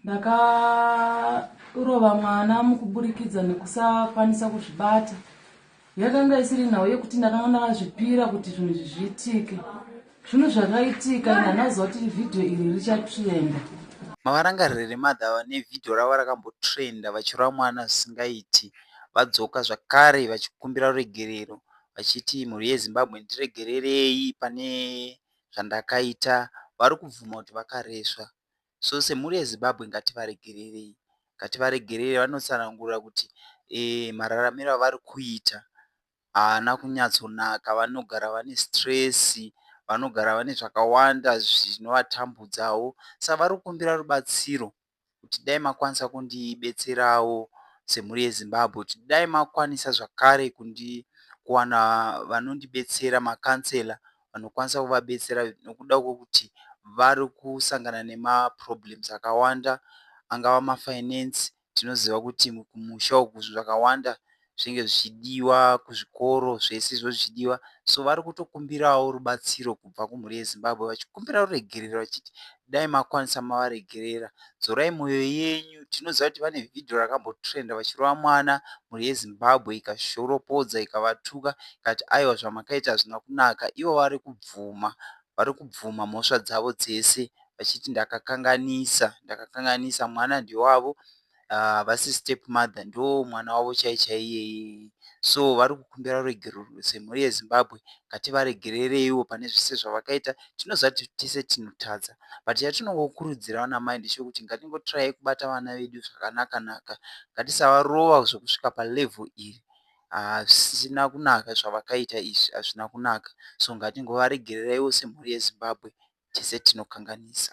ndakarova mwana mukuburikidza nekusakwanisa kuzvibata yakanga isiri nhau yekuti ndakanga ndakazvipira kuti zvinhu izvi zviitike zvinhu zvakaitika ende hanaziva kuti vhidhiyo iri richatrenda mavarangarire remadha vane vhidhiyo ravo rakambotrenda vachirova mwana zvisingaiti vadzoka zvakare vachikumbira ruregerero vachiti mhuri yezimbabwe ndiregererei pane zvandakaita vari kubvuma kuti vakaresva so semhuri yezimbabwe ngativaregererei ngativaregerere vanotsanangura kuti e, mararamiro avari kuita haana kunyatsonaka vanogara vane stress vanogara vane zvakawanda zvinovatambudzawo sa vari kukumbira rubatsiro kuti dai makwanisa kundibetserawo semhuri yezimbabwe kuti dai makwanisa zvakare kundi kuwana vanondibetsera macancela vanokwanisa kuvabetsera nokuda kwekuti vari kusangana nemaproblems akawanda angava mafinance tinoziva kuti kumusha uku zvinhu zvakawanda zvinenge zvichidiwa kuzvikoro zvese izvo zvichidiwa so vari kutokumbirawo rubatsiro kubva kumhuri yeZimbabwe vachikumbira ruregerero vachiti dai makwanisa mavaregerera dzorai moyo yenyu tinoziva kuti vane vhidhiyo rakambotrenda vachirova mwana mhuri yezimbabwe ikashoropodza ikavatuka ikati aiwa zvamakaita hazvina kunaka ivo vari kubvuma vari kubvuma mhosva dzavo dzese vachiti ndakakanganisa ndakakanganisa mwana ndewavo ah, havasi uh, step mother ndo mwana wavo chai chaiyeye so vari kukumbira ruregerero semhuri yezimbabwe ngativaregerereiwo pane zvese zvavakaita tinozati tese tinotadza but chatinongokurudzira vana mai ndechekuti ngatingotirai kubata vana vedu zvakanaka naka ngatisavarova zvekusvika palevel iri hazvisina kunaka zvavakaita izvi hazvina kunaka so ngatingovaregerereiwo semhuri yezimbabwe tese tinokanganisa